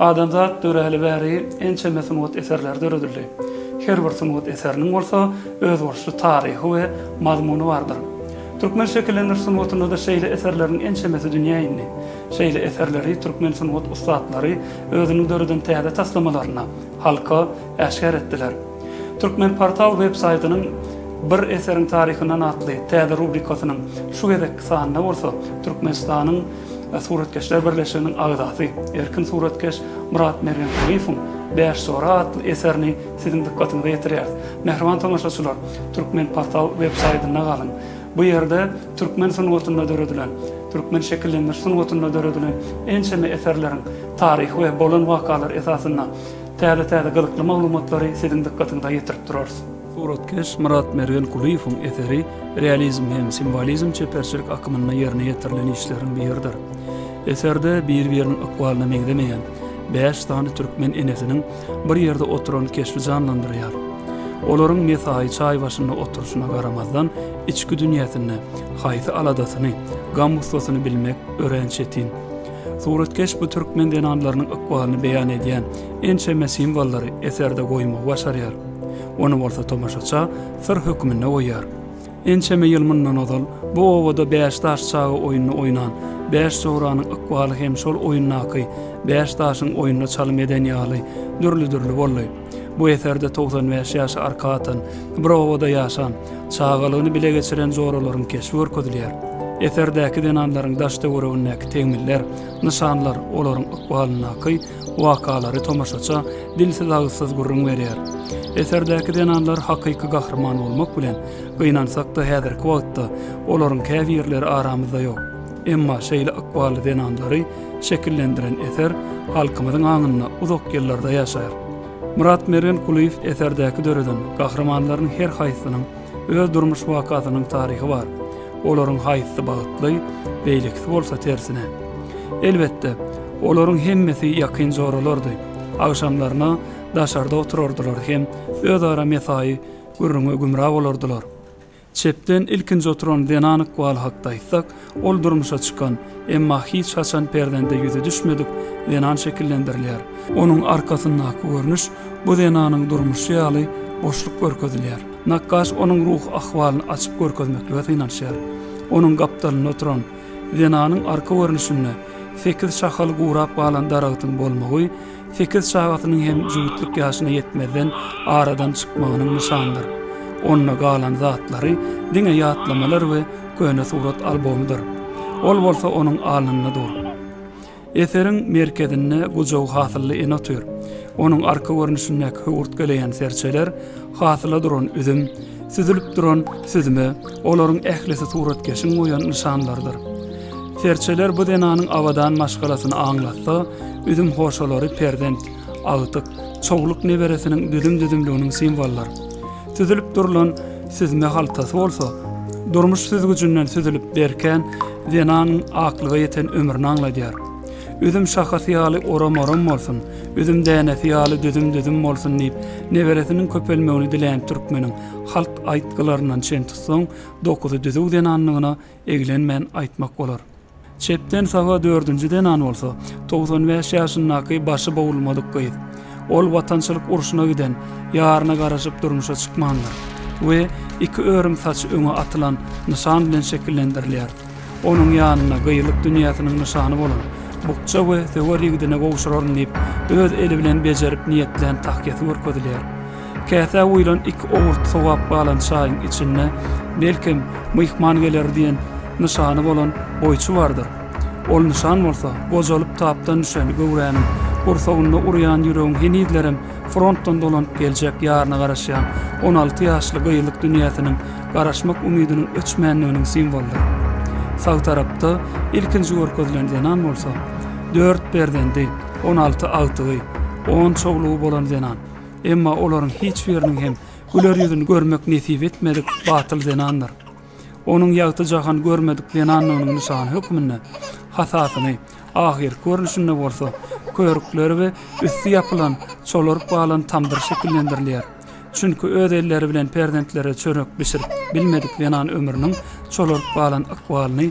Adamzat döräli bäri ençeme sungat eserleri döredildi. Her bir sungat eseriniň bolsa özboluşly taryhy we mazmuny bardyr. Türkmen şekillendiriş sungatynda-da şeýle eserleriň ençemesi dünýä indi. Şeýle eserleri türkmen sungat ussatlary özüniň döreden täze taslamalaryna, halka, äşgär etdiler. Turkmenportal web-saýtynyň Bir eseriň taryhyndan atly täze rubrikasynyň şu gezekki sanynda bolsa Türkmenistanyň Suratkeşler birleşiginiň agzasy, erkin suratkeş Myrat Mergenhanifowyň Bäş sora atly eserini siziň dykgatyňyza ýetirýäris. Mähriban tomaşaçylar, Türkmenportal web saýtynda galyň. Bu ýerde türkmen sungatynda döredilen, türkmen şekillendiriş sungatynda döredilen ençeme eserleriň taryhy we bolan wakalary esasynda täze-täze gyzykly maglumatlary siziň dykgatyňyza ýetirip durarys. Suratkeş Myratmergen Kulyýewiň eseri realizm hem simwolizm çeperçilik akymynda ýerine ýetirilen işleriň biridir. Eserde bir-biriniň ykbalyna meňzemeýän bäş sany türkmen enesiniň bir ýerde oturan keşbi janlandyrýar. Olaryň mesaýy çaý başynda oturyşyna garamazdan, içki dünýäsinde haýsy aladasyny, gam-gussasyny bilmek örän çetin. Suratkeş bu türkmen zenanlarynyň ykbalyny beýan edýän ençeme simwollary eserde goýmagy başarýar. Ony bolsa tomaşaça syr hökmünde goýýar. Ençeme ýyl mundan ozal bu obada bäş daş çaga oýnuny oýnan, bäş jogranyň ykbaly hem şol oýundaky bäş daşyň oýnuna çalym eden ýaly dürli-dürli boldy. Bu eserde togsan bäş ýaşy arka atan, bir obada ýaşan, çagalygyny bile geçiren joralaryň keşbi görkezilýär. Eserdäki zenanlaryň daş-töweregindäki tegmiller, nyşanlar olaryň ykbalyndaky wakalary tomaşaça dilsiz-agyzsyz gürrüň berýär. Eserdäki zenanlar hakyky gahryman bolmak bilen, gynansak-da häzirki wagtda olaryň käbirleri aramyzda ýok. Emma şeýle ykbally zenanlary şekillendiren eser halkymyzyň aňynda uzak ýyllarda ýaşar. Myrat Mergen Kulyýew eserdäki döreden gahrymanlaryň her haýsynyň Öz durmuş wakasynyň taryhy bar. Olaryň haýsysy bagtly, beýlekisi bolsa tersine. Elbetde, olaryň hemmesi ýakyn joralardy. Agşamlaryna daşarda oturardylar hem özara mesaýy gürrüňe gümra bolardylar. Çepden ilkinji oturan zenan ykbaly hakda aýtsak, Ol durmuşa çykan, emma hiç haçan perzende ýüzi düşmedik zenan şekillendirilýär. Onuň arkasyndaky görnüş bu zenanyň durmuşy ýaly boşluk görkezilýär. Nakgaş onuň ruhy ahwalyny açyp görkezmeklige synanyşýar. Onuň gapdalynda oturan zenanyň arka görnüşinde sekiz şahaly gurap galan daragtyň bolmagy sekiz çagasynyň hem jübütlik ýaşyna ýetmezden aradan çykmagynyň nyşanydyr. Onda galan zatlary diňe ýatlamalar we köne surat albomydyr. Ol bolsa onuň alnynda dur. Eseriň merkezinde gujagy hasylly ene otyr. Onuň arka görnüşindäki höwürtgeleýän serçeler, hasyla duran üzüm, Süzülip duran süzme, olaryň ählisi suratkeşiň goýan nyşanlarydyr. Serçeler bu zenanyň abadan maşgalasyny aňlatsa, üzüm hoşalary perzent, agtyk, çowluk neberesiniň düzüm-düzümliginiň simwolydyr. Süzülip durlan süzme haltasy bolsa, durmuş süzgüjinden süzülip berkän zenanyň aklyga ýeten ömrüni aňladýar. Üzüm şahasy ýaly oram-oram bolsun, üzüm dänesi ýaly düzüm-düzüm bolsun diýip, neberesiniň köpelmegini dileýän türkmeniň halk aýtgylaryndan çen tutsaň, dokuzy düzüw zenanlygyna eglenmän aýtmak bolar. Çepden saga dördünji zenan bolsa, togsan bäş ýaşyndaky başy bowulmadyk gyz. Ol Watançylyk urşuna giden, ýaryna garaşyp durmuşa çykmandyr we iki örüm saçy öňe atylan nyşan bilen şekillendirilýär. Onuň ýanyna gyýylyk dünýäsiniň nyşany bolan bukja we söwer ýigidini gowşuraryn diýip, öz eli bilen bejerip niýetlän tahýasy görkezilýär. Käsä guýlan iki owurt sowap galan çaýyň içinde, belkem, myhman geler diýen nyşany bolan goýçy bardyr. Ol nyşan bolsa, gojalyp tapdan düşen göwräniň gursagynda urýan ýüregiň henizlerem frontdan dolanyp geljek ýaryna garaşýan on alty ýaşly gyzlyk dünýäsiniň garaşmak umydynyň öçmändiginiň simwolydyr. Sag tarapda ilkinji görkezilen zenan bolsa, dört perzendi, on alty agtygy, on çowlugy bolan zenan. Emma olaryň hiç biriniň hem güler ýüzüni görmek nesip etmedik batyl zenandyr. Onuň ýagty jahan görmedik zenanlygynyň nyşany hökmünde hasasyny, ahyrky görnüşinde bolsa körükleri we üsti ýapylan, çolaryp galan tamdyr şekillendirilýär. Çünki öz elleri bilen perzentlere çörek bişirip bilmedik zenan ömrüniň çolaryp galan ykbalyny